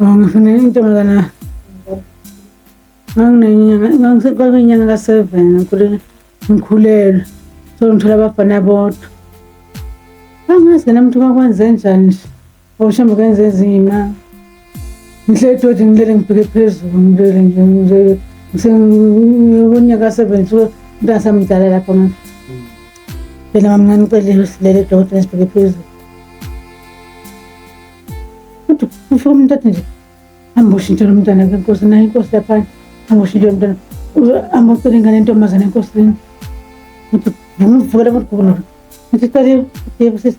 Oh, ngifuna intombazana nganginenyanga kwakuyinyanga ka-seven ngikhulelwe so ngithola abafana bodwa angazi nami ukuthi kwakwenze njani nje Awushambe kenze ezima. Ngihleli dodi ngilele ngibheke phezulu ngilele nje nje ngisengonyaka 70 mntasa mdala lapha manje. Phela mamncane ucelile usilele dodi ngisibheke phezulu. Kodwa ufike umuntu athi nje hamba ushintshe lo mntana ke nkosi naye inkosi lapha hamba ushintshe lo mntana hamba ucele ingane yentombazane enkosini. Ngithi ngimuvukela kodwa ukuthi cela yebo sisi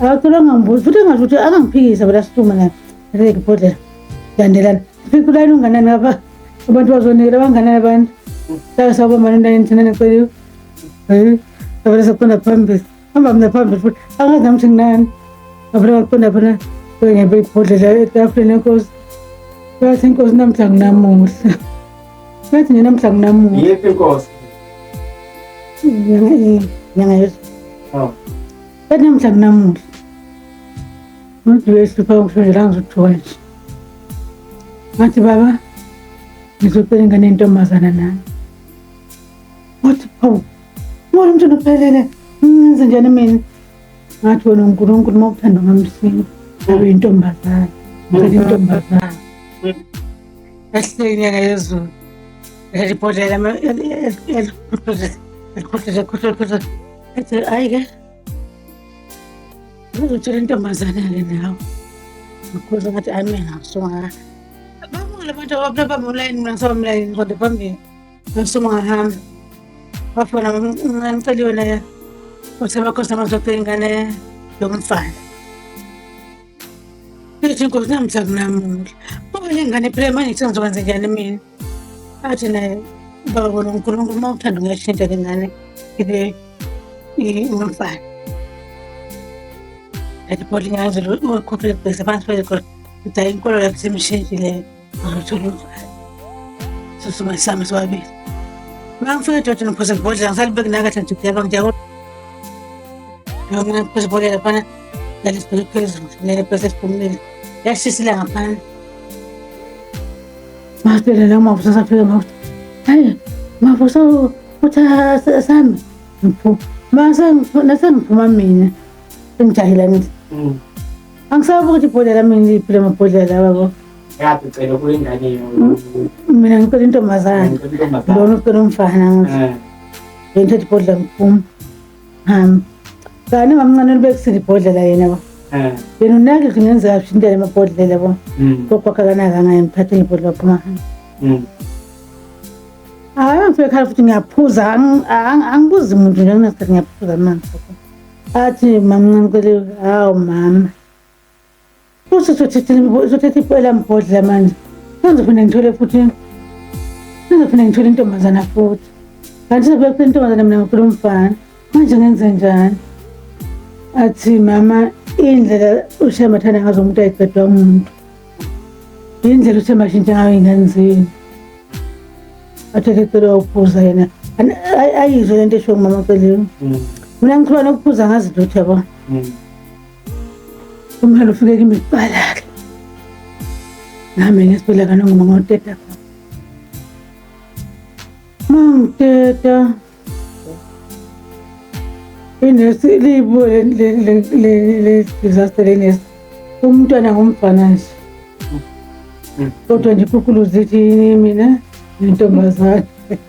akacela ngambuzi futhi engasho ukuthi angangiphikisa phela situme naye ngeke ibhodlela landelana fika ulayini unganani ngapha abantu bazonikela banganani abantu sake sawubambana ulayini thina neceliwe avele saqonda phambili hamba mina phambili futhi angazi nami ukuthi nginani avele waqonda phana ngebe ibhodlela etafuleni enkosi bathi inkosi namhla nginamuhla bathi nje namhla nginamuhla yephi inkosi nyanga yezulu Kanti namuhla kunamuhla. Umuntu wehlupha ukushonela ngizothiwa nje. Ngathi baba ngizocela ingane yentombazana nami. Wathi phawu. Ngoba umntwana uphelele. Ngenze njani mina? Ngathi wena uNkulunkulu uma uthanda ngamsinga. Ngabe intombazana. Ngicela intombazana. Ehleki nyaka yezulu. Elibhodlela elikhuthaza khuthaza Ethi ayi ke uzotshela intombazane-ke nawe ngikhuza ngathi ayi mina ngasungaka bamukile abantu ababamlayini mina ngisabamlayini kodwa phambili ngasungahamba wafona mncane celi yona ya usebakhona amazoqe ingane yomfana ithi inkosi namthakunamula okunye ingane phela manje sengizokwenzekani mina athi naye baba bona unkulunkulu uma uthanda ungayishintsha le ngane ibe inomfana athi bhoti ngazile ukhuphe bhese phansi phezu khona ukuthi hayi inkolo yakho semshintshe leyo angithola umfana sosuma sami sobabili mangifika edoda nophosa ngibhodlela ngisalibeki nakahle nje kuyaba ngiyako noma phosa ibhodlela fana lalisibheke phezulu lele bhese siphumile yashisa ilanga phansi Masitshele la mavusa safika mavusa. Hayi, mavusa uthi sami. Ngiphu. Mase nase ngiphuma mina. Ngijahile ngithi. Mm. Angisabi ukuthi ibhodlela mina liphile amabhodlela babo. Yapi cela kuyo ingane yo. Mina ngicela intombazane. Lona ucela umfana ngithi. Eh. Ngithathe ibhodlela ngiphuma. Um, kanti mamncane libekisile ibhodlela yena yabo. Eh. Yena unake kungenza kahle indlela amabhodlela yabo. Mm. Kodwa akanaka ngaye ngiphathe ngebhodlela phuma. Mm. Hayi angifike khaya futhi ngiyaphuza ang- ang- angibuzi muntu nje kunesikhathi ngiyaphuza amanzi. Athi mamncane kwele hawu mama. Futhi uzothetha imibo- uzothetha ipo elambhodlela manje. Sengizophinde ngithole futhi sengizophinde ngithole intombazana futhi. Kanti sobe kule ntombazana mina ngifuna umfana. Manje ngenze njani? Athi mama indlela uShemba athanda ngazo umuntu ayiqedwa umuntu. Indlela uShemba ashintsha ngayo ingane zenu. Athethe cela ukuphuza yena. Ani- ay- Ayizwe lento esho ngumama Celeni. Mina ngikhuluma nokuphuza ngazi lutho yabo. Mm. Umhalo ufike kimi kuqala-ke. Nami ngesibhedlela kanongoma ngoteta khona. Mangiteta. Inesi libo le le le le le disaster lenesi. Umntwana ngumfana nje. Kodwa nje ikhukhuluzi ithi mina intombazane.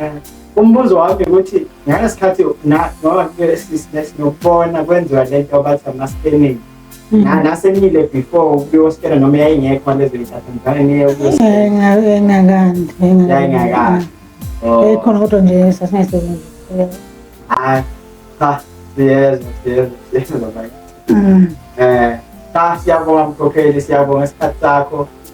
Eh, umbuzo wami ukuthi ngalesikhathi ngoba sinokubona kwenziwa le nto bathi ama-scanning mhm. nasenile before ukuyoskena noma yayingekho lezoyingakandi ekhona kodwa nje sasingayisebenzi hayi cha siyezwa siyezwa siyezwa um cha siyabonga mkhokheli siyabonga isikhathi sakho